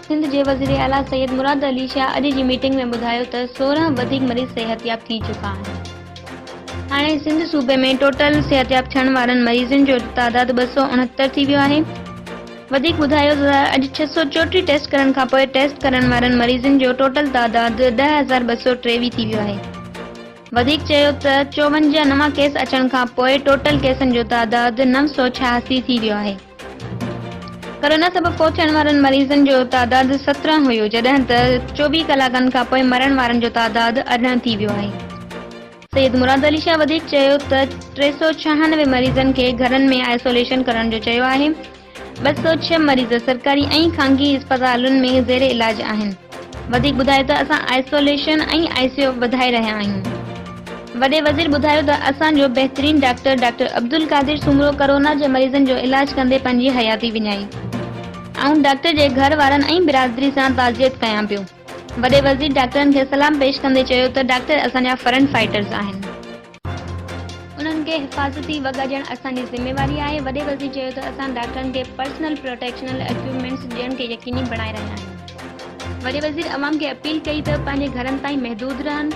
سنڌ جي وزير اعليٰ سيد مراد علي شاهه اڄ جي ميٽنگ ۾ ٻڌايو ته سورهن وڌيڪ مريض صحتياب ٿي چڪا آهن، هاڻي سنڌ صوبي ۾ ٽوٽل صحتياب ٿيڻ وارن مريضن جو تعداد ٻه سؤ اڻهتر ٿي ويو آهي، وڌيڪ ٻڌايو ته اڄ ڇهه سؤ چوٽيهه ٽيسٽ ڪرڻ کانپوء ٽيسٽ ڪرڻ وارن مريضن جو ٽوٽل تعداد ڏهه هزار ٻه سؤ ٽيويهه ٿي ويو آهي، وڌيڪ چيو ته چوونجاهه نوان ڪيس اچڻ کانپوء ٽوٽل ڪيسن جو تعداد نو سؤ ڇهاسي ٿي ويو آهي. ڪورونا سبب فوت ٿيڻ وارن مريضن جو تعداد سترهن هيو جڏهن ته چوويهه ڪلاڪن کانپوء مرڻ وارن جو تعداد ارڙهن ٿي ويو آهي. سيد مراد علي شاهه وڌيڪ چيو ته ٽي سؤ ڇهانوي مريضن کي گهرن ۾ آئسوليشن ڪرڻ جو چيو آهي، ٻه سؤ ڇهه مريض سرڪاري ۽ خانگي اسپتالن ۾ زير علاج آهن. وڌيڪ ٻڌائي ته اسان آئسوليشن ۽ آء سي يو وڌائي رهيا آهيون. وڏي وزير ٻڌايو ته اسان جو بهترين doctor doctor Abdul Qadir Soomro corona جي مريضن جو علاج ڪندي پنهنجي حياتي وڃائي. آئون ڊاڪٽر جي گهر وارن ۽ برادري سان تعزيت ڪيان پيو. وڏي وزير ڊاڪٽرن کي سلام پيش ڪندي چيو ته ڊاڪٽر اسان جا فرنٽ فائيٽرز آهن. انهن کي حفاظتي وڳا ڏيڻ اسان جي ذميواري آهي. وڏي وزير چيو ته اسان ڊاڪٽرن کي پرسنل پروٽيڪشنل اڪيوپمينٽس ڏيڻ کي يقيني بڻائي رهيا آهيون. وڏي وزير عوام کي اپيل ڪئي ته پنهنجي گهرن تائين محدود رهن.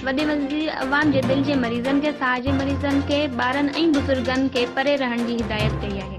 وڏي وزير عوام جي دل جي مريضن کي، ساهه جي مريضن کي، ٻارن ۽ بزرگن کي پري رهڻ جي هدايت ڪئي آهي.